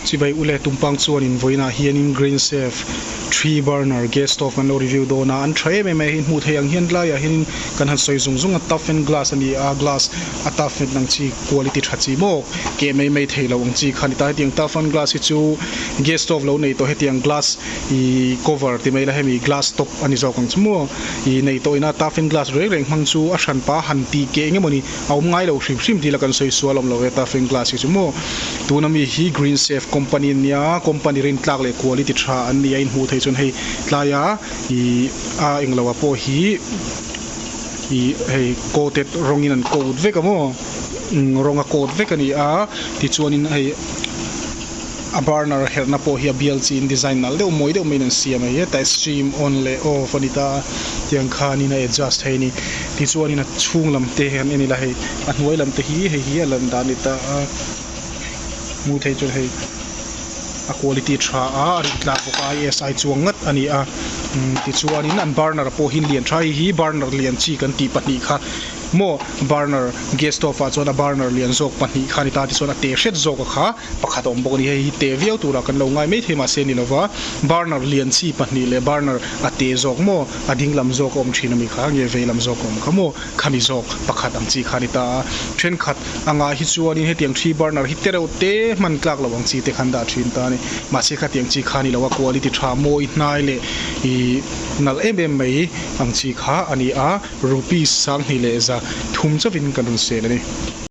Chibai u le tumpang chuan invawiinah hianin Green Safe three burner gas stove kan lo review dawn a, an tha em em a, hei hmuh theih ang hian tlaiah hianin kan han sawi zung zung a toughen glass a ni a, glass a toughen ang chi quality tha chi mawk keh mai mai thei lo ang chi kha a ni ta, hetiang toughen glass hi chu gas stove lo nei tawh hetiang glass ih cover ti mai la hemi glass top a ni zawk ang chu maw ih nei tawh ina toughen glass reng reng hmang chu a hran pa han tih keh eng emaw ni a awm ngai lo hrim hrim tila kan sawi sual awm lo e, Tafeng Glass hi chu maw? Tuna mi hi Green Safe company an nia, company rintlak leh kuali ti tha an ni a, inhmuh theih chuan hei tlaia ih a eng loah pawh hi ih hei coated rawngin an coat vek a maw, umm rawng a coat vek a ni a, tichuanin hei. A burner herhna pawh hi a bial chi in design nal deuh mawi deuh mai in an siam a, hetah stream on leh off a ni ta, tiang khan in a adjust thei a ni. Tichuan in a chhung lam te han en ila hei a hnuai lam te hi hei hi a lan dan ni ta a, hmuh theih chuan hei a quality tha a, a rin tlak bawk a, IS ai chuang ngat a ni a, tichuan in an burner pawh hi in lian tha, hei hi burner lian chi kan tih pahnih kha maw, burner gas stove ah chuan a burner lian zawk pahnih kha a ni ta, tichuan a te hret zawk a kha. pakhat a awm bawk a ni. Hei hi teh viau turah kan lo ngai mai thei mahse ni lova, burner lian chi pahnih leh burner a teh zawk maw, a ding lam zawk a awm thin a mi kha, nge vei lam zawk a awm kha maw kha ni zawk pakhat ang chi kha a ni ta a. Thenkhat angah hi chuanin hetiang three burner hi tereuh te hman tlak lo ang chi te khan dah thin ta a ni. Mahse khatiang chi kha a ni lo a, quality tha, mawi hnai leh ih nalh em em mai ang chi kha a ni a, rupees sanghniheh leh za thum chauhin kan rawn sale a ni.